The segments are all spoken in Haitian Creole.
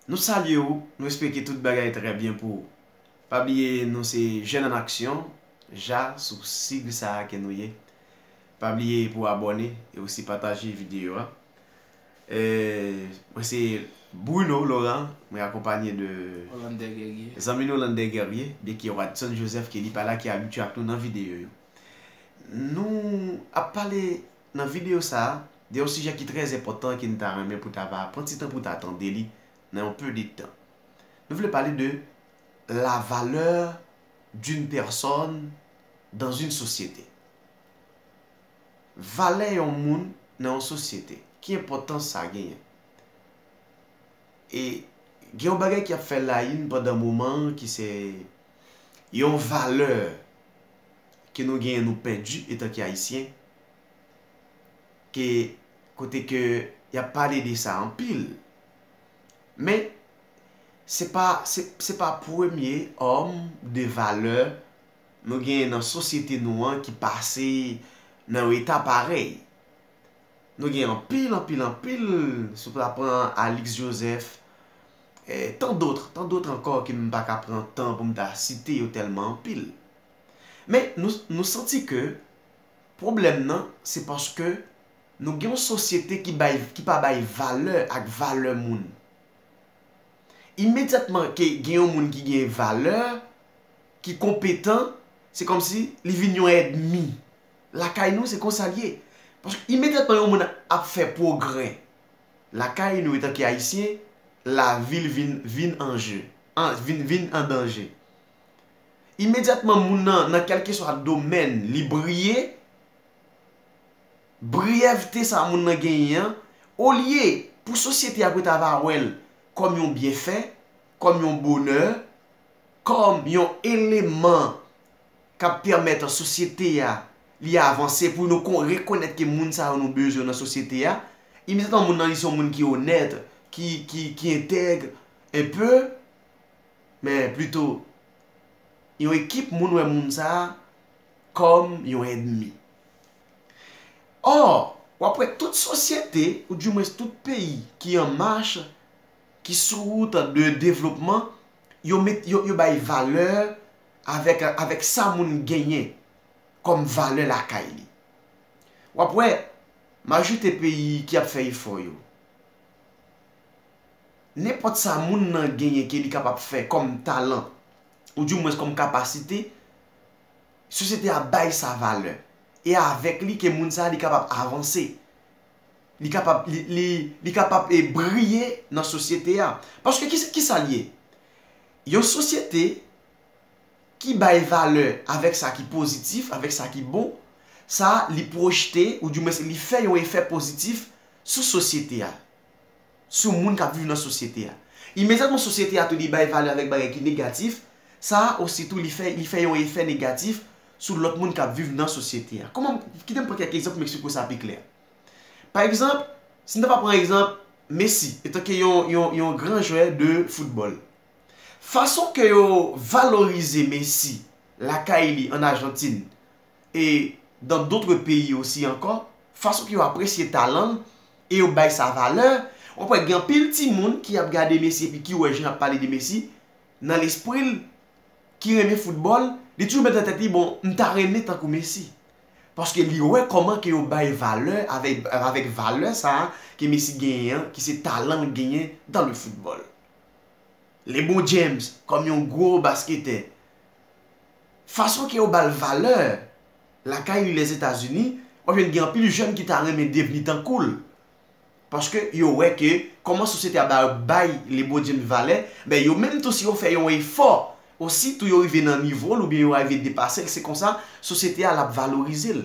Nou salye ou, nou espeke tout bagay trè byen pou ou. Pa bliye nou se Jèn an Aksyon, ja, sou sig sa a ke nou ye. Pa bliye pou abòne e osi pataje videyo a. Mwen se Bruno Laurent, mwen akonpanye de zanmi nou Lander Guerrier, byen ke Wadson Joseph ke li pa la ki abitye ak nou nan videyo yo. Nou ap pale Nan videyo sa a, gen yon sijè ki trè enpòtan ke n ta renmen pou ta va pran ti tan pou ta tande li nan yon peu de tan. Nou vle pale de la valeur d'une personne dans une société. Valè yon moun nan yon sosyete. Ki enpòtans sa genyen? E gen yon bagay ki ap fè layin pandan moman an ki se Yon valè ke nou genyen nou pèdi etan ke Ayisyen, ke kote ke y ap pale de sa anpil. Men, se pa, se pa premye òm de valè nou genyen nan sosyete nou an ki pase nan yon eta parèy. Nou gen anpil, anpil, anpil, si w ta pran Alix Joseph, e tant d'autres, tant d'autres ankò ke m pa ka pran tan pou m ta site yo tèlman anpil. Men, nou santi ke pwoblèm nan se paske nou gen yon sosyete ki bay, ki pa bay valè ak valè moun. Imedyatman ke gen yon moun ki gen valè, ki konpetan, se kòmsi li vin yon èdmi. Lakay nou se konsa l ye. Paske imedyatman yon moun ap fè pwogrè lakay nou etanke Ayisyen, lavi l vin vin an je, vin vin an danje. Imedyatman moun nan nan kèlkeswa domèn li briye, briyèvte sa moun nan genyen an, olye pou sosyete a pou ta va wè l kòm yon byenfè, kòm yon bonè, kòm yon eleman, k ap pèmèt sosyete a li avanse pou nou rekonèt ke moun sa yo nou bezwen nan sosyete a imediatman moun nan li se yon moun ki onèt ki entèg un peu men plito yon ekip moun wè moun sa a kòm yon èdmi or w ap wè tout sosyete ou di mwens tout peyi ki an mach ki sou wout de devlopman yo bay valè avèk sa moun genyen kòm valè lakay li. W ap wè, majorite peyi ki ap fè efò yo, nenpòt sa moun nan genyen ke li kapab fè kòm talan, ou di mwens kòm kapasite, sosyete a bay sa valè. E avèk li ke moun sa li kapab avanse. Li kapab, li kapab e briye nan sosyete a. Paske ki sa li ye? Yon sosyete ki bay valè avèk sa ki pozitif, avèk sa ki bon, sa li pwojte ou di mwens li fè yon efè pozitif sou sosyete a, sou moun k ap viv nan sosyete a. Imedyatman sosyete a tou li bay valè avèk bagay ki negatif, sa ositou li fè li fè yon efè negatif sou lòt moun k ap viv nan sosyete a. Kòman m, kite m pran kèk egzanp pou m eksplike w sa pi klè. Pa egzanp, si n ta va pran egzanp Messi etanke yon gran jwè de foutbòl. Fason ke yo valorize Messi lakay li an Ajantin e dan dotre peyi osi ankò, fason ke yo apresye talan l e yo bay sa valè, w ap wè gen anpil timoun ki ap gade Messi epi ki wè jan y ap pale de Messi, nan lespri l, ki renmen foutbòl, li toujou mete nan tèt li, bon, m ta renmen tankou Messi. Paske li wè kòman ke yo bay valè avèk valè sa a ke Messi genyen an, ki se talan l genyen dan le foutbòl. Lebron James kòm yon gwo basketè, fason ke yo ba l valè lakay li Lèzetazini, w ap jwenn gen anpil jèn ki ta renmen devni tankou l. Paske yo wè ke kòman sosyete a ba yo bay le bo diem valè, ben yo menm tou si yo fè yon efò, osi tou yo rive nan nivo l oubyen yo arive depase l se konsa sosyete a l ap valorize l.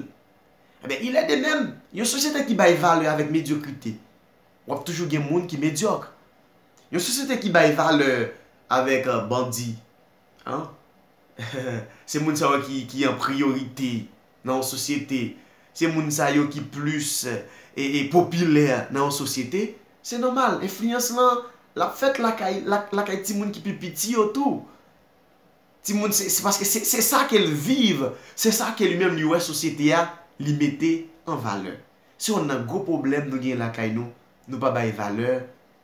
Enben il en de même, yon sosyete ki bay valè avèk medyokrite, w ap toujou gen moun ki medyòk. Yon sosyete ki bay valè avèk bandi, an, se moun sa yo ki an priyorite. nan yon sosyete, se moun sa yo ki plis popilè nan yon sosyete, se nòmal, enfliyans lan, l ap fèt lakay timoun ki pi piti yo tou. Timoun, se paske se sa ke l viv, se sa ke li menm li wè sosyete a, li mete an valè. Se yonn nan gwo pwoblèm nou gen lakay nou, nou pa bay valè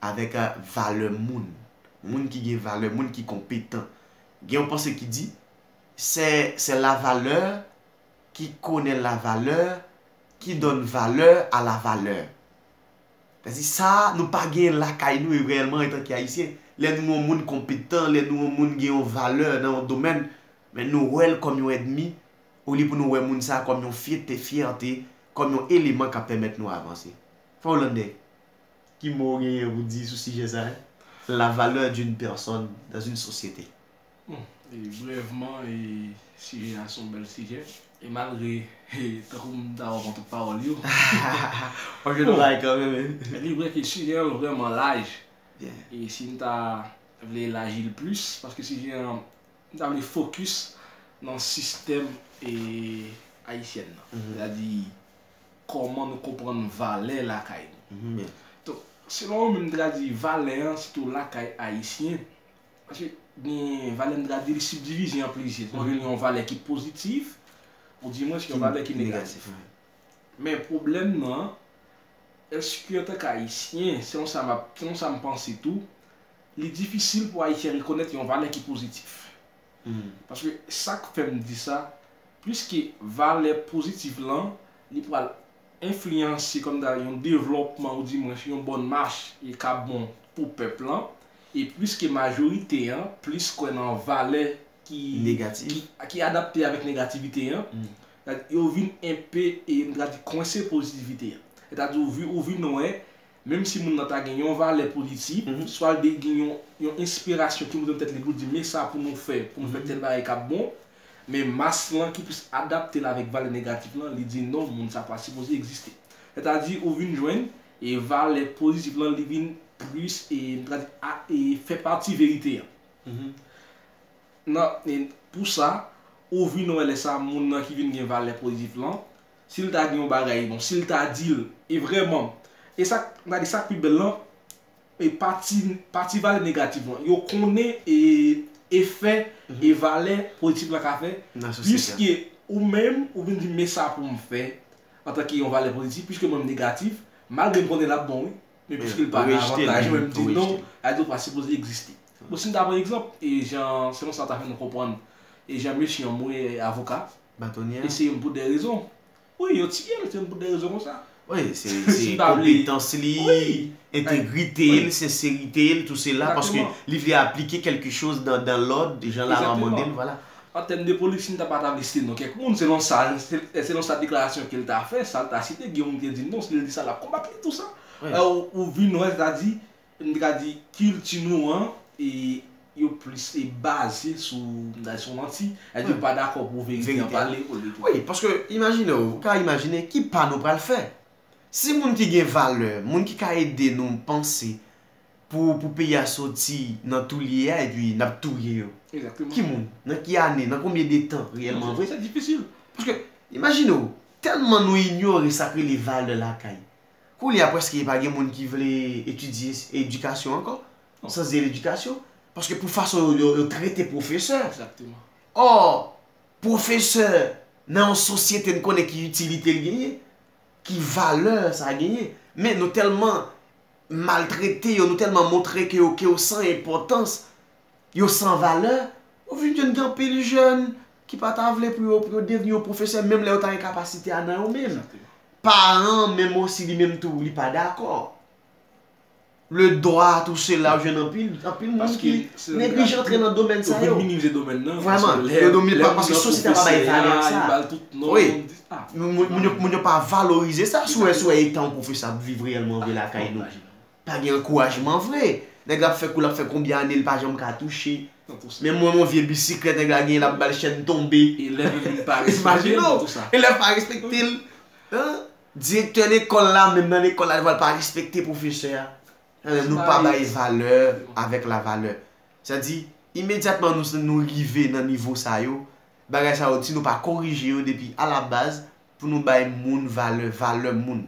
avèk valè moun. Moun ki gen valè, moun ki konpetan. Gen yon panse ki di, Sè sè la valè ki konè la valè ki donn valè a la valè. Sa di sa nou pa gen lakay nou e reyèlman etan ke ayisyen lè nou wè yon moun konpetan lè nou wè yon moun gen yon valè nan yon domèn men nou wè l kòm yon èdmi olye pou nou wè moun sa kòm yon fyète fyète kòm yon eleman kap pèmèt nou avanse. Frè Hollandè ki mo ou genyen pou di sou sijè sa la valè d'une personne dans une société? Bon, brèvman, sijè a se yon bèl sijè. E malgre, tankou m ta wè kont pawòl yo. Bon, gen yon bagay kanmenm wi. Li vre ke sijè an vrèman laj. E si m ta vle elaji l plis, paske sijè an, m ta vle fokis nan sistèm ayisyèn nan. Sètadi, kòman nou konprann valè lakay nou. Donk, selon ou menm, m ta di valè an, sitou lakay ayisyen, Paske gen valè mdra di li sibdivize an plizyè. Ou jwenn yon valè ki pozitif ou di mwens yon valè ki negatif. Men pwoblèm nan, èske antank ayisyen, selon sa map, selon sa mpanse tou, li difisil pou ayisyen rekonèt yon valè ki pozitif. Paske sak fèm di sa, pliske valè pozitif lan li pral enfliyanse kòm ta di yon devlòpman ou di mwens yon bòn mach e k ap bon pou pèp lan e piske majorite an plis kwè nan valè ki ki adapte avèk negativite an yo vin enpe e m ta di kwense pozitivite an e ta di ou vin wè Menm si moun nan ta gen yon valè pou li di, swa l te gen yon enspirasyon ki monte nan tèt li pou l di men sa pou nou fè pou nou fè tèl bagay k ap bon, men mas lan ki plis adapte l avèk valè negatif lan, li di non moun sa pa sipoze egziste. Sètadi ou vin jwenn e valè pozitif lan li vin plis e m ta di a e fè pati verite a. Nan pou sa, ou vin wè lè sa moun nan ki vin gen valè pozitif lan, Si l ta di yon bagay, bon, si l ta di l, e vrèman, e sa k, m ta di sa k pi bèl lan, e pati, pati valè negatif lan, yo konnen e efè e valè politik lan ka fè, Nan sosyete a. piske ou menm, ou vin di m men sa pou m fè, antanke yon valè politik, piske mwen m negatif, malgre m konnen l ap bon wi, men piske l pa nan avantaj mwen, m di non, la di ou pa sipoze egziste. Bon, si n ta pran egzanp, e jan, selon sa w ta fè nou konprann, e jan mesye an, m wè avoka. Batonye a. Eseye m pou de rezon. Wi, yo ti pye m eseye m pou de rezon kon sa. Wi, se konpetans li, entegrite l, senserite l, tou se la. Paske li vle aplike kelke choz dan lod, jan la lwa mande l, vwala. An tèm de polisi m ta pa ta vle site non kèk moun, selon sa, selon sa deklarasyon ke l ta fè, sa l ta site, gen yon moun ki te di m non, si l di sa l ap konbat li, tou sa. Ou vin wè, sa ta di. M te ka di kilti nou an e yo plis e baze sou m ta di sou manti. Sa vle di yo pa dakò pou verite an pale pou l te tou. Wi, paske imajine w, ou ka imajine ki pa nou pral fè. Si moun ki gen valè, moun ki ka ede nou panse pou pou peyi a soti nan tou l ye a epi n ap touye yo. Egzakteman. Ki moun? Nan ki ane? Nan konbyen de tan reyèlman vre? Se difisil. Paske imajine w, tèlman nou inyore sa k rele valè lakay. Koulye a prèske pa gen moun ki vle etidye edikasyon ankò, syans-de ledikasyon, paske pou fason yo trete pwofesè. Ò, pwofesè nan yon sosyete n konnen ki itilite l genyen, ki valè sa genyen. Men nou tèlman maltrete yo, nou tèlman montre ke yo san enpòtans, Yo san valè, ou vin jwenn gen anpil jèn ki pa ta vle pou yo devni yon pwofesè menm lè yo ta gen kapasite a nan yo menm. Paran an menm osi li menm tou li pa dakò. Le dwa tou se la ou jwenn anpil moun ki neglije antre nan domèn sa yo. Yo vin minimize domèn nan. Vreman, yo do mi pa paske sosyete a pa bay valè ak sa. Wi, moun yo pa valorize sa. Sou wè etan yon pwofesè ap viv reyèlman vre lakay nou. Pa gen ankourajman vre. Nèg la ap fè kou lap fè konbyen ane li pa janm ka touche. Men mwen yon vye bisiklèt nèg la genyen lap bal chèn tonbe. Elèv yo vin pa respekte l pou tout sa. Elèv pa respekte l. Direktè lekòl la menm nan lekòl la li pral pa respekte pwofesè a. Nou pa bay valè avèk la valè. Sa di imedyatman nou rive nan nivo sa yo, bagay sa yo si nou pa korije yo depi a la baz pou nou bay moun valè, valè moun.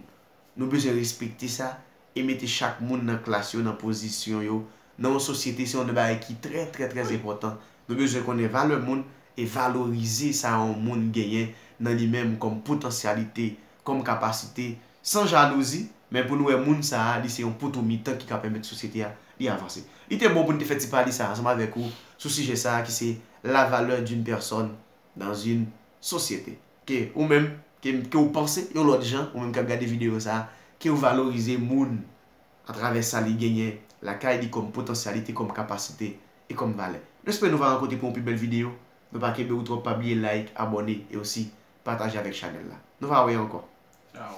Nou bezwen respekte sa e mete chak moun nan klas yo nan pozisyon yo nan yon sosyete se yon bagay ki trè trè trè enpòtan. Nou bezwen konnen valè moun e valorize sa yon moun genyen nan li menm kòm potansyalite, kòm kapasite, san jalouzi, men pou nou wè moun sa a li se yon poto mitan ki ka pèmèt sosyete a li avanse. Li te bon pou n te fè ti pale sa ansanm avèk ou sou sijè sa a ki se la valeur d'une personne dans une société. Ke ou menm, ke m, ke ou panse yon lòt jan, ou menm k ap gade videyo sa a, ke ou valorize moun atravè sa li genyen lakay li kòm potansyalite, kòm kapasite e kòm valè. Nou espere nou va rankontre pou yon pi bèl videyo. Nou pa kenbe ou twòp, pa bliye like, abòne e osi pataje avèk chanèl la. Nou va wè ankò. Ciao.